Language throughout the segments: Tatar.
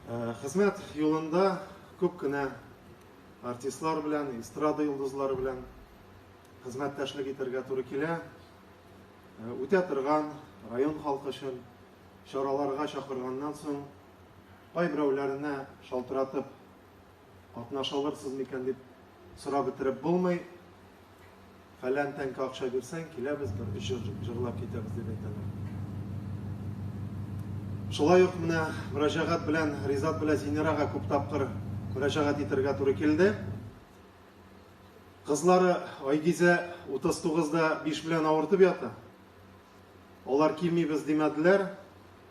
Хезмәт юлында күп кенә артистлар белән, эстрада йолдызлары белән хезмәттәшлек итәргә туры килә. Үтә торган район халкы өчен чараларга чакырганнан соң, кайберәүләренә шалтыратып Катнаша алырсыз микән дип сорап бетереп булмый. Фәлән тәңкә акча бирсәң, киләбез, бер өч җыр җырлап китәбез дип әйтәләр. Шулай ук менә мөрәҗәгать белән Ризат белән Зинирага күп тапкыр мөрәҗәгать итәргә туры килде. Кызлары Айгизә 39-да 5 белән авыртып ята. Алар килмибез димәделәр.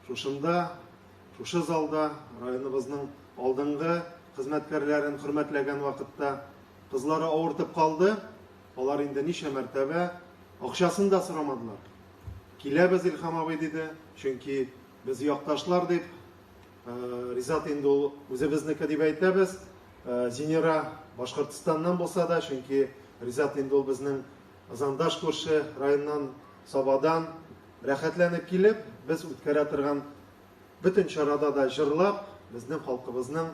Шушында Шушы залда районыбызның алдынгы хезмәткәрләрен хөрмәтләгән вакытта кызлары авыртып калды. Алар инде ничә мәртәбә акчасын да сорамадылар. Киләбез, Илхам абый, диде, чөнки без якташлар дип, э, Ризат инде ул үзебезнеке дип әйтәбез. Э, Зинера Башкортстаннан булса да, чөнки Ризат инде ул безнең Зандаш күрше районнан Сабадан Рәхәтләнеп килеп, без үткәрә торган бөтен чарада да җырлап, безнең халкыбызның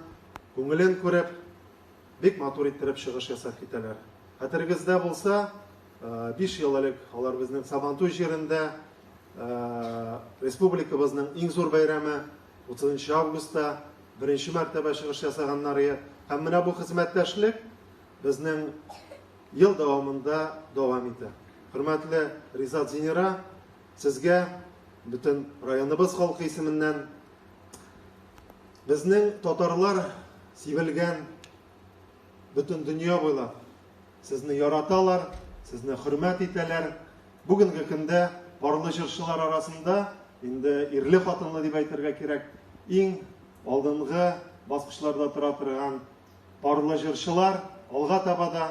күңелен күреп, бик матур иттереп чыгыш ясап китәләр. Хәтерегездә булса, биш ел элек алар безнең Сабантуй җирендә республикабызның иң зур бәйрәме 30 августта беренче мәртәбә чыгыш ясаганнар иде. Һәм менә бу хезмәттәшлек безнең Ел дәвамында дәвам итә. Хөрмәтле Ризат Зинира, сезгә бөтен районыбыз халкы исеменнән безнең татарлар сибелгән бөтен дөнья буйлап сезне яраталар, сезне хөрмәт итәләр. Бүгенге көндә парлы җырчылар арасында инде ирле хатынлы дип әйтергә кирәк, иң алдынгы баскычларда тора торган Парлы җырчылар алга таба да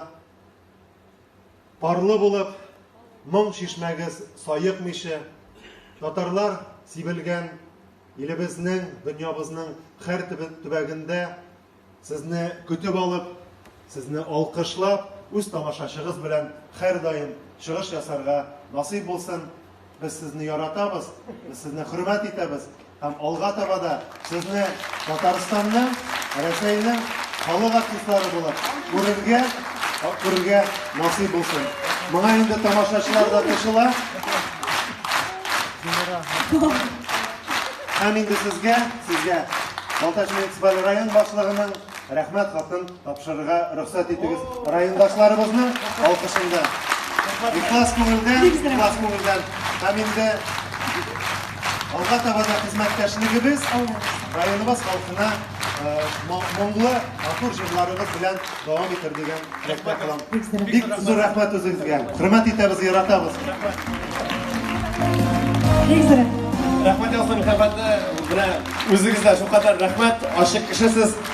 парлы булып, моң чишмәгез саекмыйча, татарлар сибелгән илебезнең, дөньябызның хәр төбәгендә сезне көтеп алып, сезне алкышлап, үз тамашачыгыз белән хәр даим чыгыш ясарга насыйп булсын. Без сезне яратабыз, без сезне хөрмәт итәбез һәм алга таба да сезне Татарстанның, Рәсәйнең халык артистлары булып күрергә, күрергә насыйп булсын. Моңа инде тамашачылар да кушыла. Һәм инде сезгә, сезгә Балтач муниципаль район башлыгының рәхмәт хатын Тапшырырга рөхсәт итегез. Райондашларыбызның алкышында. Ихлас күңелдән, ихлас күңелдән. Һәм инде алга таба да хезмәттәшлегебез районыбыз халкына моңлы, матур җырларыбыз белән дәвам итер дигән теләктә калам. Бик зур рәхмәт үзегезгә. Хөрмәт итәбез, яратабыз. Рәхмәт ясыйм, хөрмәтле. Менә үзегезгә шулкадәр рәхмәт. Ачык кешесез.